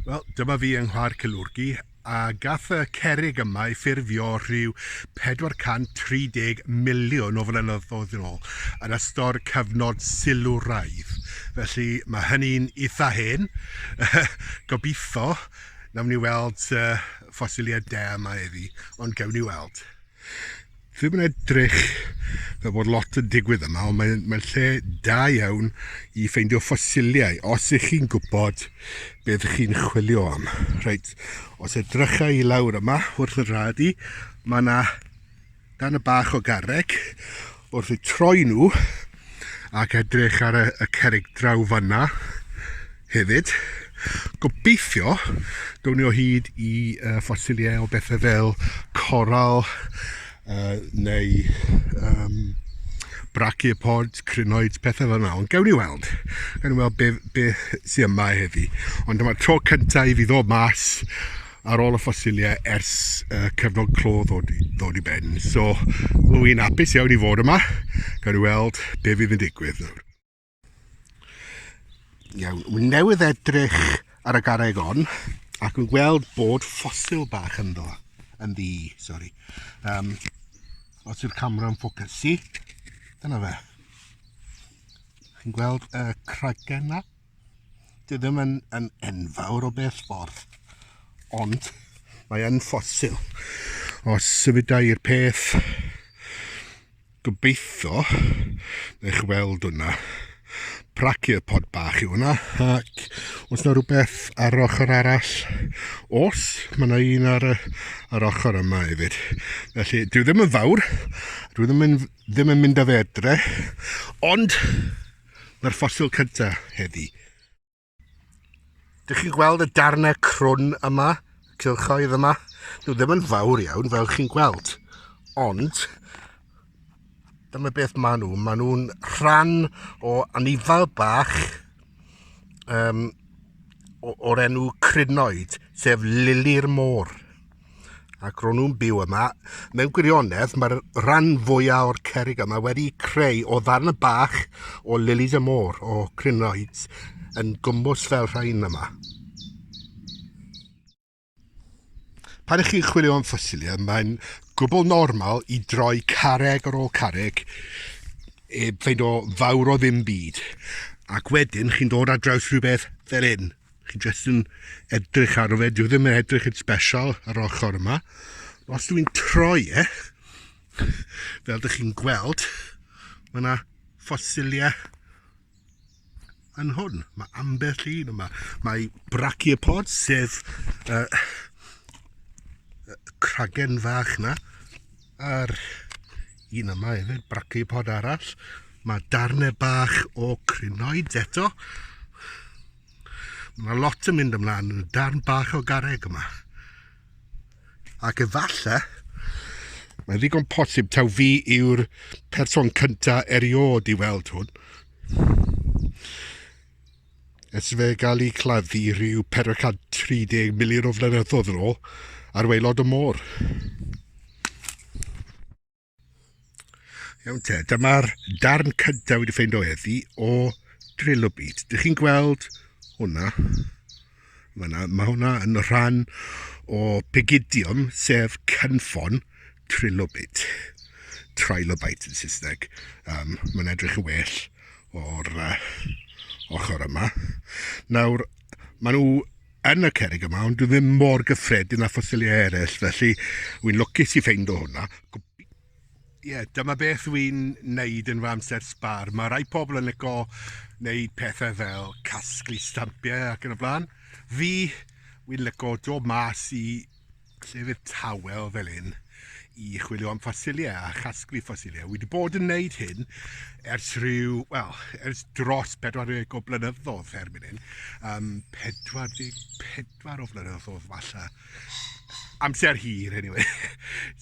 Wel, dyma fi yng Nghwa'r Cilwrgi, a gath y cerig yma ei ffurfio rhyw 430 miliwn o flynyddoedd yn ôl, yn ystod cyfnod silwraidd. Felly, mae hynny'n eitha hen. Gobeithio, nawn ni weld ffosiliad da yma heddi, ond gewn ni weld. Ddim yn edrych fel bod lot yn digwydd yma, ond mae'n mae lle da iawn i ffeindio ffosiliau, os ych chi'n gwybod beth chi'n chwilio am. Reit, os edrychau i lawr yma, wrth y rhad i, mae yna dan y bach o garreg wrth eu troi nhw ac edrych ar y, y cerig draw fanna hefyd. Gobeithio gawn ni o hyd i uh, ffosiliau o bethau fel coral uh, neu um, brachiopods, crynoids, pethau fel yna. Ond gawn ni weld. Gawn ni weld beth be sy'n yma heddi. Ond dyma'r tro cyntaf i fi ddod mas ar ôl y ffosilie ers y cyfnod clo ddod, ddod i ben. So, rwy'n i'n apus iawn i fod yma, gan i weld be fydd yn digwydd nawr. Iawn, wy'n newydd edrych ar y garreg on, ac yn gweld bod ffosil bach ynddo, yn ddi, sori. Um, os yw'r camera yn ffocysu, dyna fe. Chi'n gweld y cragen na? Dwi ddim yn, yn enfawr o beth ffordd, ond mae yn ffosil. Os sefydau i'r peth, gobeithio, eich weld hwnna, pod bach yw hwnna, ac os yna rhywbeth ar yr ochr arall, os, mae yna un ar y, ar ochr yma hefyd. Felly, dwi ddim yn fawr, dwi ddim yn, ddim yn mynd â fe edre, ond Mae'r ffosil cynta heddi. Dych chi'n gweld y darnau crwn yma, y cylchoedd yma? Nhw ddim yn fawr iawn fel chi'n gweld, ond dyma beth maen nhw. Maen nhw'n rhan o anifal bach um, o'r enw Crynoid, sef lili'r môr. ac ro'n nhw'n byw yma. Mewn gwirionedd, mae'r rhan fwyaf o'r cerrig yma wedi creu o ddarn bach o lilies y môr, o crinoids, yn gwmws fel rhain yma. Pan ych chi'n chwilio am ffosilia, mae'n gwbl normal i droi carreg ar ôl carreg i e, ffeind o fawr o ddim byd. Ac wedyn chi'n dod ar draws rhywbeth fel hyn. Chi jyst yn edrych ar fe, dyw e ddim yn edrych yn special yr ochr yma. Os dwi'n troi e, fel dych chi'n gweld, mae yna ffosiliau yn hwn. Mae ambell un yma. Mae brachiopod, sef uh, cragen fach yna, a'r un yma hefyd, brachiopod arall. Mae darnau bach o crinoid eto. Mae yna lot yn mynd ymlaen yn y darn bach o garreg yma. Ac efallai, mae'n ddigon posib taw fi yw'r person cynta eriod i weld hwn. Ers fe gael ei claddu rhyw 430 miliwn o flynyddoedd yn ôl ar waelod y môr. Iawn te, dyma'r darn cyntaf wedi ffeind o eddi o Trillo Beat. Dych chi'n gweld hwnna? Fyna, mae hwnna yn rhan o Pigidium, sef cynffon Trilobit. Trilobite yn Saesneg. Um, mae'n edrych yn well o'r uh, ochr yma. Nawr, maen nhw yn y cerrig yma, ond dwi ddim mor gyffredin â ffosiliau eraill, felly wy'n lwcus i ffeindo hwnna. Ie, yeah, dyma beth wy'n neud yn fy amser sbar. Mae rhai pobl yn lico neud pethau fel casglu stampiau ac yn y blaen. Fi, wy'n lico dod mas i llefydd tawel fel hyn i chwilio am ffosiliau a chasglu ffosiliau. Wedi bod yn wneud hyn ers rhyw, wel, ers dros 40 o blynyddoedd er mynd hyn. Um, 44 o flynyddoedd falle. Amser hir, anyway.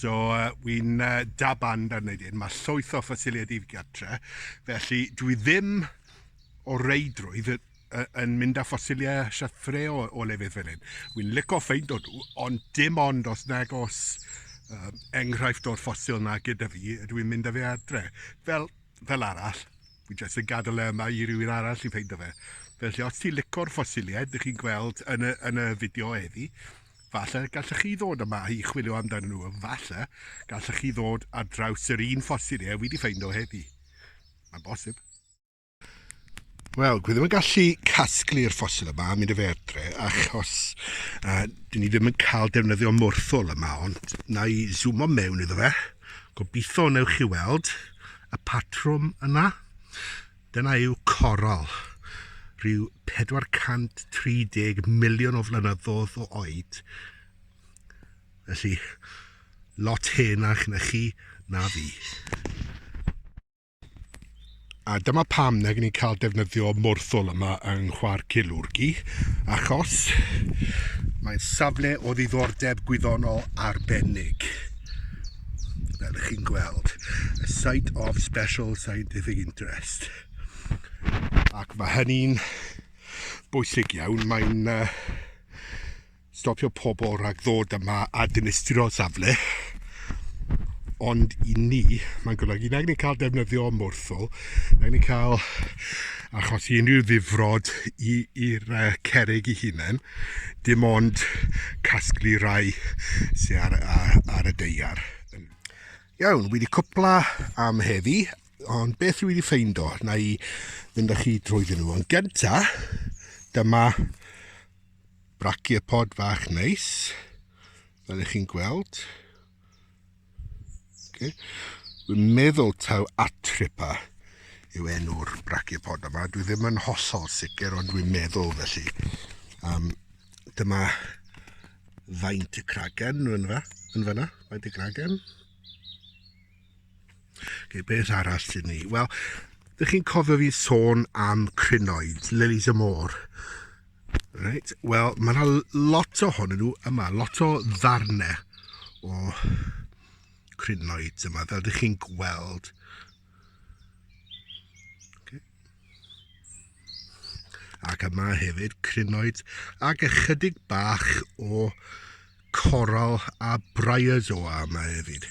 so, uh, wy'n uh, da band ar wneud hyn. Mae llwyth o ffosiliau dif gartre. Felly, dwi ddim o reidrwydd yn mynd â ffosiliau siathre o, o lefydd fel hyn. Wy'n lico ffeind o nhw, ond dim ond os nag os uh, enghraifft o'r ffosil na gyda fi, ydw i'n mynd â fe adre. Fel, fel arall, fi jyst yn gadael e yma i rywun arall i ffeind o fe. Felly, os ti'n licor ffosiliau, ydych chi'n gweld yn y, yn y fideo heddi, falle gallech chi ddod yma i chwilio amdano nhw, falle gallech chi ddod ar draws yr un ffosiliau wedi ffeind o heddi. Mae'n bosib. Wel, dwi ddim yn gallu casglu'r ffosil yma am mynd y fedre, achos uh, dyn ni ddim yn cael defnyddio morthol yma, ond na i zoomo mewn iddo fe. Gobeithio wnewch chi weld y patrwm yna. Dyna yw coral, rhyw 430 miliwn o flynyddoedd o oed. Felly, lot hen a'ch na chi na fi. A dyma pam nag ni'n cael defnyddio morthwl yma yng Nghwar Cilwrgi, achos mae'n safle o ddiddordeb gwyddonol arbennig. Fel ych chi'n gweld, a site of special scientific interest. Ac mae hynny'n bwysig iawn, mae'n uh, Stopio pobl rhag ddod yma a dinistrio safle, ond i ni mae'n golygu nag ni'n cael defnyddio morthwl, nag ni'n cael achosi unrhyw ddifrod i'r cerrig ei hunain, dim ond casglu rhai sy ar, ar, ar y deiar. Iawn, wedi cwpla am heddi, ond beth rwy wedi ffeindo, na i fynd â chi drwyddyn nhw. Yn gynta, dyma Brachiopod fach neis, fel ych chi'n gweld. Okay. Dwi'n meddwl taw atripa yw enw'r brachiopod yma. Dwi ddim yn hollol sicr, ond dwi'n meddwl felly. Um, dyma faint y cragen yn fa, yn fanna, faint y cragen. Okay, beth arall sy'n ni? Wel, ydych chi'n cofio fi sôn am crinoed, lilies y môr? Reit, wel, mae yna lot ohonyn nhw yma, lot o ddarnau o crinoed yma, fel ydych chi'n gweld. Okay. Ac yma hefyd, crinoed, ac ychydig bach o coral a bryozoa yma hefyd.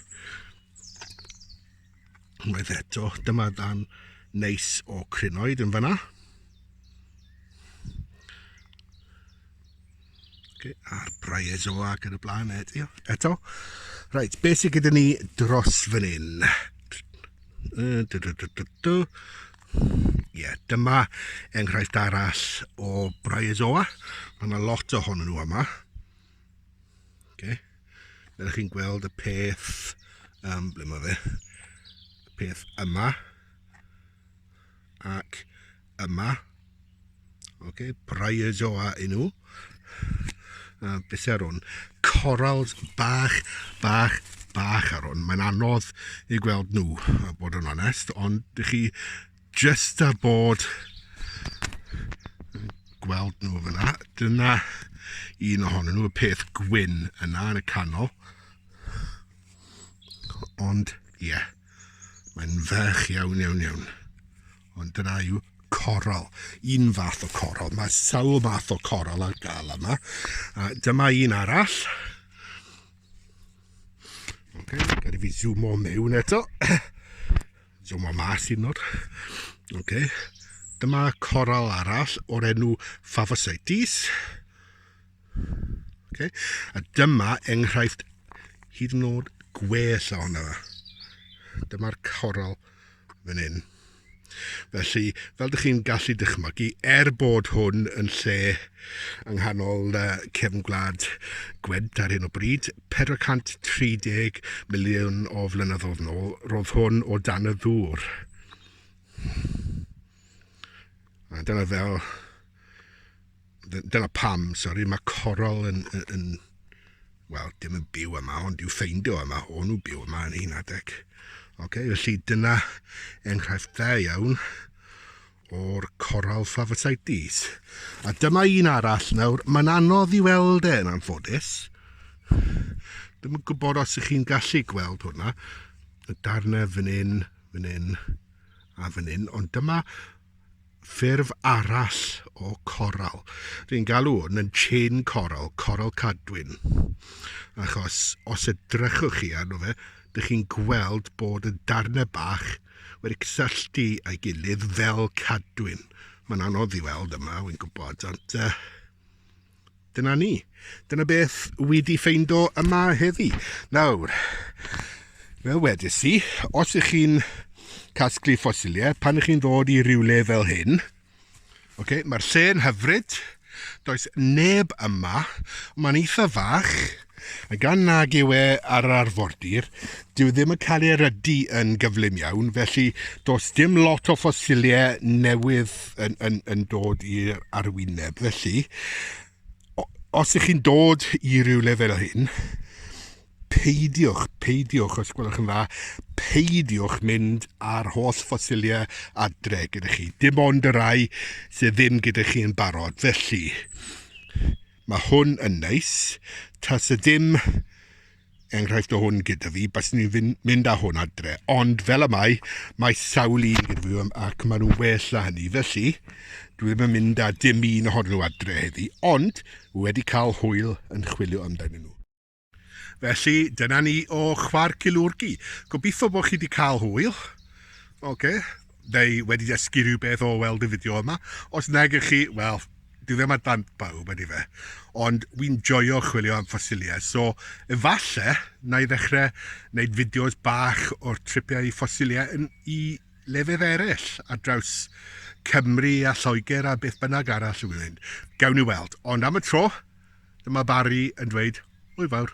Unwaith eto, dyma ddan neis o crinoed yn fanna. Okay, a'r bryozoa ac yn y blaen eto. eto. Reit, beth sydd gyda ni dros fan hyn? Ie, dyma enghraifft arall o bryozoa. Mae yna lot ohonyn nhw yma. Okay. Fel chi'n gweld y peth, um, ble mae fe, y peth yma, ac yma, okay, brai'r joa i nhw, a beth ar hwn, corals bach, bach, bach ar hwn, mae'n anodd i gweld nhw, a bod yn onest, ond chi Just ar bod gweld nhw fyna. Dyna un ohonyn nhw, y peth gwyn yna yn y canol. Ond, ie, yeah, mae'n ferch iawn, iawn, iawn. Ond dyna yw coral, un fath o coral. Mae sawl math o coral ar gael yma. A dyma un arall. Okay, gada fi zoom o mewn eto. Dyma mas hyn nawr. Okay. Dyma coral arall o'r enw Favosites. Okay. A dyma enghraifft hyd yn oed gwell ohono fe. Dyma'r coral fan hyn. Felly, fel ydych chi'n gallu dychmygu, er bod hwn yn lle yng nghanol cefn gwlad gwent ar hyn o bryd, 430 miliwn o flynyddoedd nôl, roedd hwn o dan y ddŵr. A dyna fel... Dyna pam, sori, mae corol yn, yn, yn... Wel, dim yn byw yma, ond i'w ffeindio yma, o'n nhw byw yma yn hyn adeg. Okay, felly dyna enghraifft dda iawn o'r coral Phaphasites. A dyma un arall nawr, mae'n anodd i weld e yn anffodus. Ddim yn gwybod os ych chi'n gallu gweld hwnna. Y darnau fan hyn, fan hyn a fan hyn. Ond dyma ffurf arall o coral. Dwi'n galw hwn yn chain coral, coral cadwyn. Achos os edrychwch chi arno fe, dych chi'n gweld bod y darnau bach wedi cysylltu â'i gilydd fel cadwyn. Mae'n anodd i weld yma, wy'n gwybod, ond uh, dyna ni. Dyna beth wedi ffeindo yma heddi. Nawr, fel wedys i, os ych chi'n casglu ffosiliau, pan ych chi'n ddod i rywle fel hyn, Ok, mae'r lle yn hyfryd. Does neb yma. Mae'n eitha fach. A gan nag yw e ar yr arfordir, dyw ddim yn cael ei erydu yn gyflym iawn, felly does dim lot o ffosiliau newydd yn, yn, yn dod i'r arwyneb. Felly, os ych chi'n dod i rywle fel hyn, Peidiwch, peidiwch, os gwelwch yn dda, peidiwch mynd â'r holl ffosiliau adre gyda chi. Dim ond y rai sydd ddim gyda chi yn barod. Felly, mae hwn yn neis. Tas y dim enghraifft o hwn gyda fi, bas ni'n mynd â hwn adre. Ond fel y mae, mae sawl un gyda fi ac maen nhw'n well na hynny. Felly, dwi ddim yn mynd â dim un ohonyn nhw adre heddi, ond wedi cael hwyl yn chwilio amdano nhw. Felly, dyna ni o Chwa'r Cilwrgi. Gobeithio bod chi wedi cael hwyl. Oce. Neu wedi dysgu rhywbeth o weld y fideo yma. Os nag ych chi, wel, dwi ddim ar dan bawb ydy fe. Ond wi'n joio chwilio am ffosiliau. So, efallai, na i ddechrau wneud fideos bach o'r tripiau i ffosiliau yn i lefydd eraill ar draws Cymru a Lloegr a beth bynnag arall y wy'n. Gawn ni weld. Ond am y tro, Dyma Barry yn dweud, Hwyl fawr.